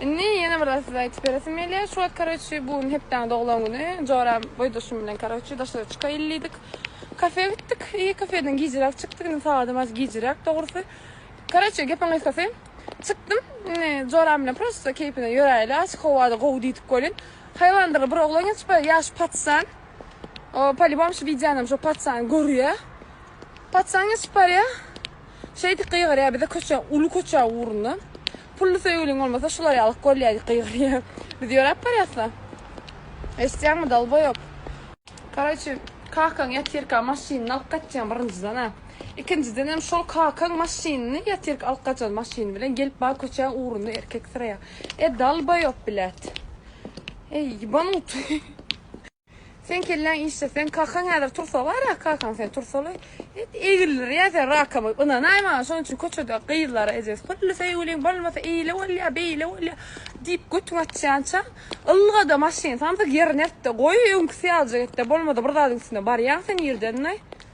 Indi ýene bir zat size aýtyp beresim gelýär. Şu wagt karoçi bu gün hepdäň doglan güni. Joram boýdaşym bilen karoçi daşara çykaýyl diýdik. Kafe gitdik. Eý kafeden gijiräk çykdyk. Indi sagadam az gijiräk dogrusy. Karoçi gepiň gysgasy çykdym. Indi joram bilen prosto keýpine ýöräýeli. Açyk howada gowy diýdik welin. Haýwandyr bir oglan geçip barýar. Ýa şu patsan. O polibom şu wideonam şo patsany görýär. Patsan geçip barýar. Şeýdip gygyrýar bize köçä uly köçä ugrundan. Pully söýgüliň bolmasa şular ýaly golýa gygyrýa. Biz ýöräp barýasda. Eşitýäňmi dolboýop. Karaçi kakaň ýatyrka maşynyny alyp gaçýan birinjiden a. Ikinjidenem şol kakaň maşynyny ýatyrka alyp gaçan maşyny bilen gelip bar köçäň ugrunda erkek syraýa. E dalboýop bilet. Eý ýybanyň. Sen kelläň işde sen kakaň häzir tursa bara kakaň sen tursaly et egildir ýa sen rakama ynanaý maňa şonuň üçin köçede gyzlara ejesi pürli söýgüliň bolmasa eýle bolýa beýle bolýa diýip götüň açýança ylgada maşyn samsyk ýerine ert-de goý öňküsi ýalyjak et-de bolmada bir zadyň üstüne barýaň sen ýerden-de.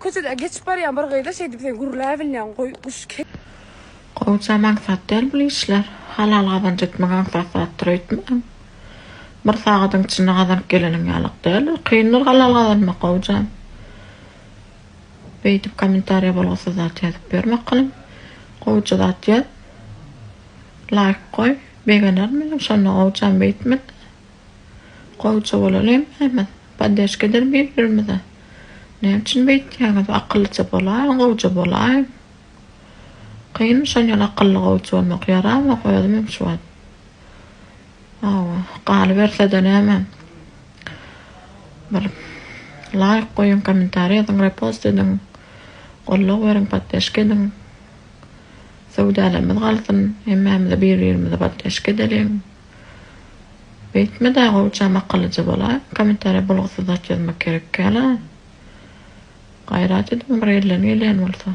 Köçede geçip barýan bir gyza şeý diýip sen gürläbilýäň goý guş ke. Gowja maksat däl bul işler. Halal gazanç etmek aňsat zatdyr öýtmäň. Bir sagadyň içinde gazanyp geleniň ýalyk däl. Kyndyr halal gazanmak gowjam. Beýdip kommentariýa bolgusyz zat ýazyp ýörme kylym. Gowja zat ýaz. Laýk goý. Begenerin men hem şonda gowjam beýtme-de. Gowja bolalymy hemmiz. Poddeşkedir bir birimize. Näme üçin beýtýäňiz akyllyja bolaýyň gowja bolaýyň. Kyn şol ýaly akylly gowja bolmak ýaramok özümem şu wagt. Hawa galybersede näme bir laýk goýuň kommentariý ýazyň repost ediň goldaw beriň poddeşke ediň. Söwdalarymyz galsyn hemmämize bir birimize poddeşke edeliň. Beýtme da gowjam akyllyja bolaý komentariýa bolgusyz zat ýazmak gerekkäla. Gaýrat ediň bir elden gelýän bolsa.